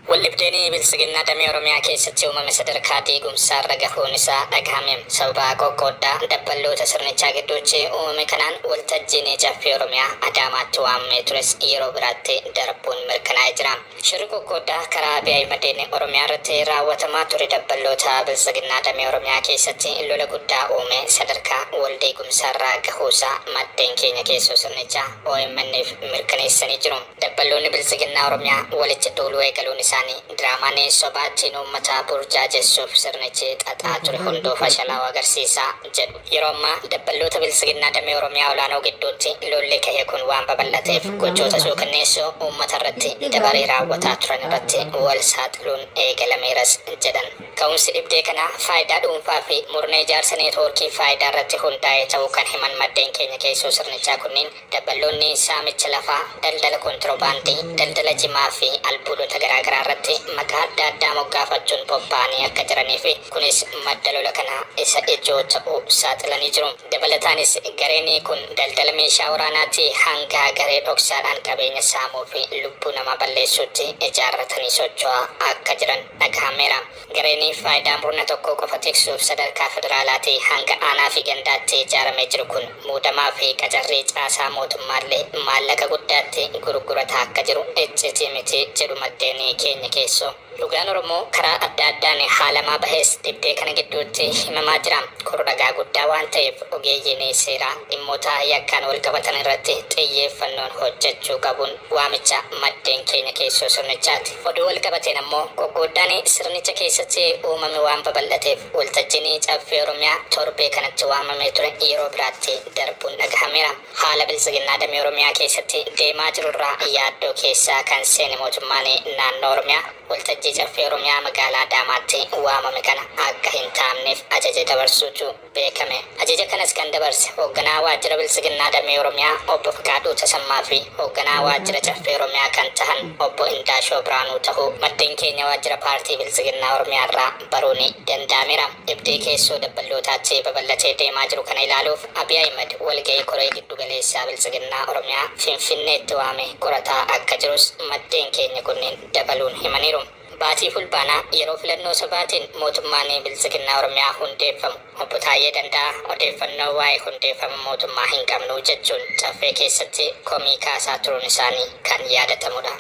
Waldhibdeen Biltsiginnaa damee Oromiyaa keessatti uumame sadarkaa diigumsaarra gahuun isaa dhagahame. Sababa qoqqooddaa dabballoota sirnichaa gidduutti uumame kanaan waltajjiin Caffee Oromiyaa Adaamaatti waamamee tures yeroo biraatti darbuun mirkanaa'ee jira. Shirri qoqqooddaa karaa Abiy Ahimadiin Oromiyaarratti raawwatamaa ture dabballoota Biltsiginnaa damee Oromiyaa keessatti lola guddaa uumee sadarkaa waldiigumsaarra gahuusaa maddeen keenya keessoo sirnichaa OMN'f mirkaneessanii jiru. Dabballoonni Biltsiginnaa Oromiyaa walitti duuluu eegaluun isaanii diraamaan sobaa ittiin uummata burjaajessuuf sirnichi xaxaa ture hunduu fashalaa'uu agarsiisa jedhu. Yeroo ammaa dabballoota Biltsiginnaa damee Oromiyaa olaanoo gidduutti lolli ka'e kun waan babal'ateef gochoota suukanneessoo uummata irratti dabaree raawwataa turan irratti wal saaxiluun eegalameeras jedhan. Ka'umsi dhibdee kanaa faayidaa dhuunfaa fi murna ijaarsa neetwoorkii faayidaa irratti hundaa'ee ta'uu kan himan maddeen keenya keessoo sirnichaa kunniin, Dabballoonni saamicha lafaa, daldala kontirobaandii, daldala jimaa fi albuudota garaagaraa irratti maqaa adda addaa moggaafachuun bobba'anii akka jiranii fi kunis madda lola kanaa isa ijoo ta'uu saaxilanii jiru. Dabalataanis gareen kun daldala meeshaa waraanaatii hanga garee dhoksaadhaan qabeenya saamuu fi lubbuu namaa balleessuutti ijaarratanii socho'aa akka jiran dhagahameera. Gareen faayidaa murna tokkoo qofa tiksuuf sadarkaa federaalaatii hanga aanaafi gandaatti ijaaramee jiru kun muudamaafi qacarrii caasaa mootummaallee maallaqa guddaatti gurgurataa akka jiru iccitii miti jedhu maddeen keenya keessoo. Dhugaan Oromoo karaa adda addaan haalamaa bahes dhibdee kana gidduutti himamaa jira. Kun ragaa guddaa waan ta'eef ogeeyyiin seeraa dhimmoota yakkaan walqabatan irratti xiyyeeffannoon hojjechuu qabun waamicha maddeen keenya keessoo sirnichaati. Oduu walqabateen ammoo qoqqooddaan sirnicha keessatti uumame waan babal'ateef waltajjiin Caffee Oromiyaa torbee kanatti waamamee ture yeroo biraatti darbuun dhagahameera. Haala Biltsiginnaa damee Oromiyaa keessatti deemaa jirurraa yaaddoo keessa kan seene mootummaan naannoo Oromiyaa waltajjii Caffee Oromiyaa magaalaa Adaamaatti waamame kana akka hin taa'mneef ajaja dabarsuutu beekame. Ajaja kanas kan dabarse Hoogganaa Waajjira Biltsiginnaa Damee Oromiyaa Obbo Fiqaaduu Tasammaa fi Hoogganaa Waajjira Caffee Oromiyaa kan tahan Obbo Indaashoo Birhaanuu tahuu maddeen keenya Waajjira Paartii Biltsiginnaa Oromiyaarraa baruuni danda'ameera. Dhibdee keessoo dabballootaa J babal'atee deemaa jiru kana ilaaluuf Abiy Ahimed walga'ii Koree Giddu Galeessaa Biltsiginnaa Oromiyaa Finfinneetti waamee qorataa akka jirus maddeen keenya kunniin dabaluun himaniiru. Baatii Fulbaanaa yeroo filannoo sobaatiin mootummaan Biltsiginnaa Oromiyaa hundeeffamu Obbo Taayyee Danda'aa odeeffannoo waa'ee hundeeffama mootummaa hin qabnu jechuun Caffee keessatti komii kaasaa turuun isaanii kan yaadatamudha.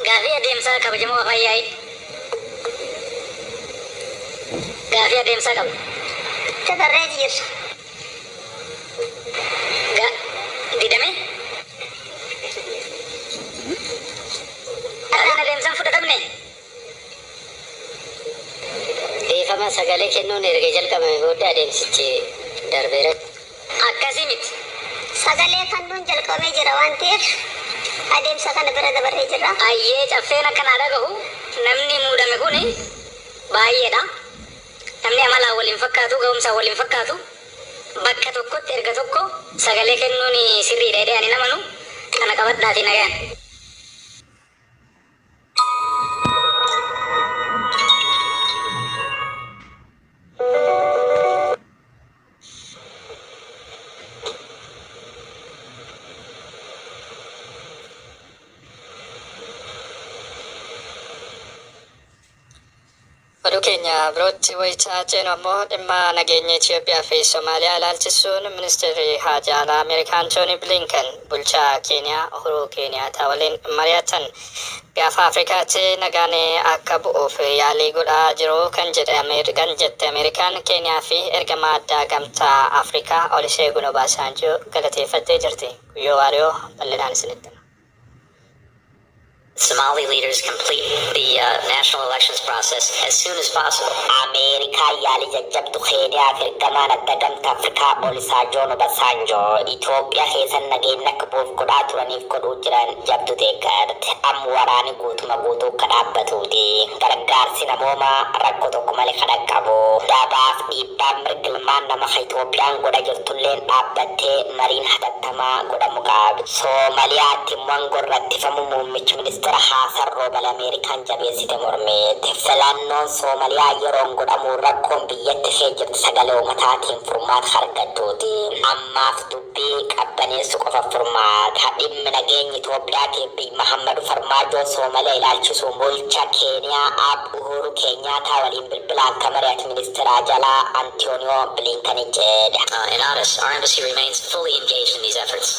Gaaffii Adeemsaa Kabajamoo Afaan Yaa'ii Gaaffii Adeemsaa Qabu. Tti Tarree Jijirsa. Ga, didame. Har'aan adeemsaan fudhatamne. Dhiifama, sagalee kennuun erga jalqabame booddee adeemsichi darbeera. Akkasii miti. Sagalee kannuun jalqabamee jira waan ta'eef adeemsa kana bira dabarree jirra. Hayyee, caffeen akka naa dhagahu namni muudame kun baay'eedha. Namni amalaan wal hin fakkaatu, gahumsaan wal hin fakkaatu. Bakka tokkotti erga tokko sagalee kennuun sirriidha jedhee ani hin amanu. Kana qabadhaatii nagayan. Oduu keenya birootti wayita ceenu ammoo dhimma nageenya Itiyoophiyaa fi Somaaliyaa ilaalchisuun Ministirri Haajaa Alaa Ameerikaa Antoonii Biliinken bulchaa Keeniyaa Uhuruu Keeniyaataa waliin mari'atan. Gaafa Afrikaatti nagaan akka bu'uuf yaalii godhaa jiru kan jette Ameerikaan, Keeniyaa fi ergamaa addaa Gamtaa Afrikaa Oliseegun Obaasaanjoo galateeffattee jirti. Guyyoo Waariyoo bal'inaan isinitti hima. Somali leaders complete the uh, national elections process as soon as possible. Ameerikaa yaalii jajjabdu Keeniyaaf ergamaan adda gamtaa Afrikaa Olisaajoon Obasaanjoo Itoophiyaa keessan nageenya akka bu'uuf godhaa turaniif godhuu jiran jabdu deeggarte. Am waraani guutuma guutuu akka dhaabbatuuti. Gargaarsi namoomaa rakkoo tokko malee kan dhaqqabu. Dabaaf dhiibbaan mirga ilmaan nama ka Itoophiyaan godha jirtulleen dhaabbattee mariin hatattamaa tamaa godha Mugaabee. Soomaliyaatti Mwangon rakkifamuu muummichi ministeera Haasan Roobal Ameerikaan jabeessite mormite. Filannoon Soomaliyaa yeroon godhamuu rakkoon biyyatti kee jirtu sagalee uumataatiin furmaata ka argattuuti. Ammaaf dubbii qabbaneessu qofa furmaata. Dhimmi nageenyi Itoophiyaatiif biy Mahammadu Farmaajoo Soomaliya ilaalchisuu bulcha Keeniyaa Aab. Uhuuru Keenyaataa waliin bilbilaan ka mari'ate Ministeera Ajalaa Antiyooniyoo Biliinkani jedhe. Inanis, our embassy remains fully engaged in these efforts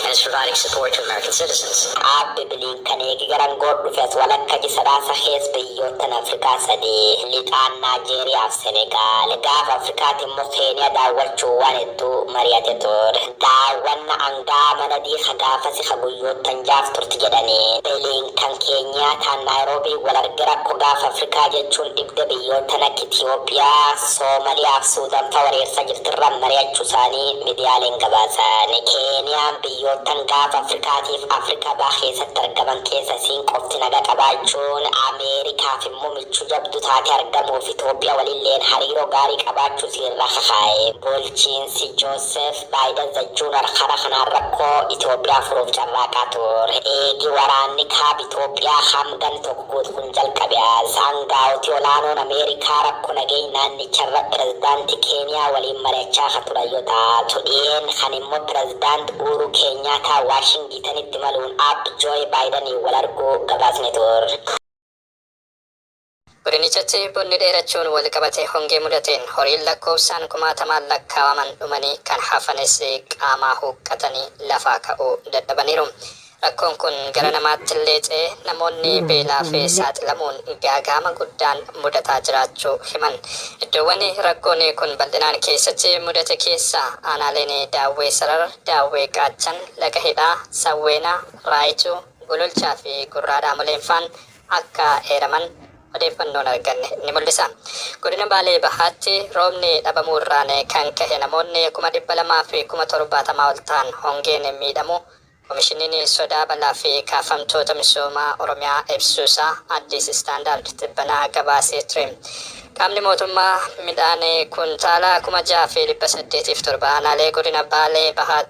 and is providing support to American citizens. Aabbe Biliinkan eegi gara angoor dhufe as walakka ji Sadaasa keessa biyyoottan Afrikaa sadii, Lixaan, Naajeeriyaa fi Senegaal, gaafa Afrikaatii immoo Keeniyaa daawwachuun waan hedduu mari'ate ture. Daawwanna Hidhaa Manadii ka gaafasi ka guyyoottan ja'aaf turti jedhani. Blinken Keeniyaataan Naayiroobii wal arge rakko Gaafa Afrikaa jechuun dhibde biyyoottan akka Itiyoophiyaa, Soomaliyaa fi Suudan fa wareersa jirti irra mari'achu isaani midiyaaleen gabaasani. Keeniyaan biyyoottan Gaafa Afrikaatiif Afrika Baha keessatti argaman keessa isiin qofti naga qabaachuun, Ameerikaaf immo michu jabdu taate argamuuf Itiyoophiya walilleen hariiro gaari qabaachu isii irra kakaa'e. Bulchiinsi Joseph. Baayidan The Junar Kara kanaan rakkoo Itoophiyaa furuuf carraaqaa ture. Eegi waraanni Kaaba Itoophiyaa Haam ganni tokko guutu kun jalqabe as, aangaa'oti olaanoon Ameerikaa rakkoo nageenya naannicharra Pirezidaanti Keeniyaa waliin mari'achaa ka turan yoo taatu, dhiyeen kana immoo Pirezidaant Uuruu Keenyaataa Waashingitanitti imaluun Aab Jooy Baayidaniin wal arguu gabaasne turre. Godinichatti bonni dheerachuun walqabatee hongee mudateen horiin lakkoofsaan kumaatamaan lakkaawaman dhumanii kan hafanis qaamaa huuqqatanii lafaa ka'uu dadhabaniiru. Rakkoon kun gara namaattillee ce'ee namoonni beelaaf saaxilamuun gaaga'ama guddaan mudataa jiraachuu himan. Iddoowwan rakkoon kun bal'inaan keessatti mudate keessaa aanaaleen Daawwee Sarar, Daawwee Qaachan, Laga Hidhaa, Sawweenaa, Raayituu, Gololchaa fi Gurraa Dhaamoleenfaan akka eeraman odeeffannoon arganne ni mul'isa. Godina Baalee Bahaatti roobni dhabamuurraan kan kahe namoonni kuma 200 fi kuma 70 ol ta'an hongeen miidhamuu Komishiniin Sodaa Balaa fi Kaafamtoota Misoomaa Oromiyaa ibsuusaa Addis Standard tibbana gabaasee ture. Qaamni mootummaa midhaan kuntaala kuma 6 fi 807 aanaalee godina Baalee Bahaatti.